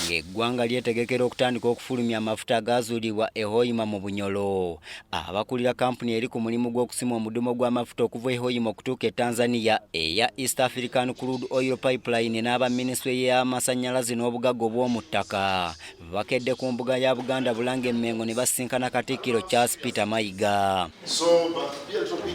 ng'eggwanga lyetegekera okutandika okufulumya amafuta agaazuulibwa e Hoima mu Bunyolo. Abakulira kampuni eri ku mulimu gw'okusima omudumo gw'amafuta okuva e Hoima okutuuka e Tanzania eya East African Crude Oil Pipeline n'aba minisitule y'amasannyalaze n'obugagga obw'omu ttaka bakedde ku mbuga ya Buganda Bulange Mmengo ne basisinkana Katikkiro Charles Peter Mayiga.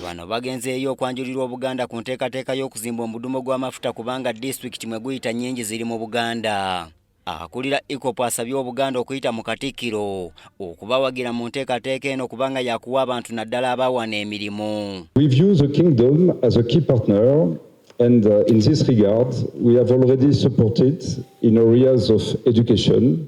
Bano bagenzeeyo okwanjulirwa Obuganda ku nteekateeka y'okuzimba omudumo gw'amafuta kubanga disitulikiti mwe guyita nnyingi ziri mu Buganda. Akulira EACOP asabye Obuganda okuyita mu Katikkiro okubawagira mu nteekateeka eno kubanga yakuwa abantu naddala abawana emirimu. We view the kingdom as a key partner and uh, in this regard we have already supported in areas of education,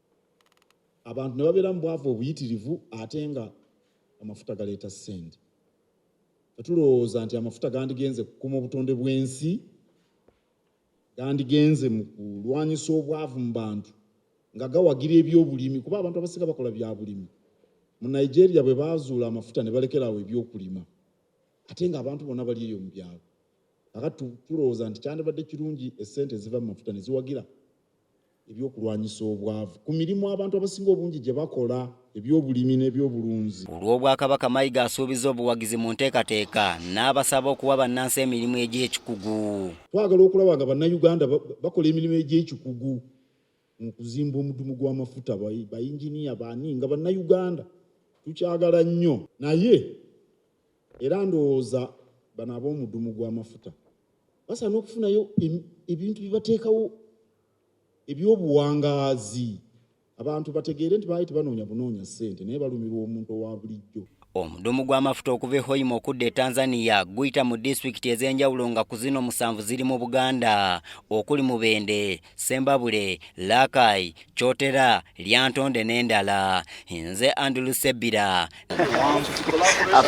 abantu ne babeera mu bwavu obuyitirivu ate nga amafuta galeeta ssente tulowooza nti amafuta gandigenze kukuma obutonde bw'ensi gandigenze mu kulwanyisa obwavu mu bantu nga gawagira ebyobulimi kuba abantu abasinga bakola byabulimi mu nigeria bwe bazuula amafuta ne balekeraawo ebyokulima ate nga abantu bona bali eyo mu byalo aka tulowooza nti kyandibadde kirungi esente eziva mu mafuta ne ziwagira eby'okulwanyisa obwavu ku mirimu abantu abasinga obungi gye bakola eby'obulimi n'ebyobulunzi. Ku lw'Obwakabaka, Mayiga asuubizza obuwagizi mu nteekateeka n'abasaba okuwa bannansi emirimu egy'ekikugu. Twagala okulaba nga Bannayuganda bakola emirimu egy'ekikugu mu kuzimba omudumu gw'amafuta, bayinginiya baani nga Bannayuganda tukyagala nnyo naye era ndowooza bano ab'omudumu gw'amafuta basaana okufunayo ebintu bye bateekawo eby'obuwangaazi abantu bategeere nti baali tebanoonya bunoonya ssente naye balumirwa omuntu owa bulijjo. Omudumu gw'amafuta okuva e Hoima okudda e Tanzania guyita mu disitulikiti ez'enjawulo nga ku zino musanvu ziri mu Buganda okuli Mubende, Sembabule, Rakai, Kyotera, Lyantonde n'endala. Nze Andrew Sebbira.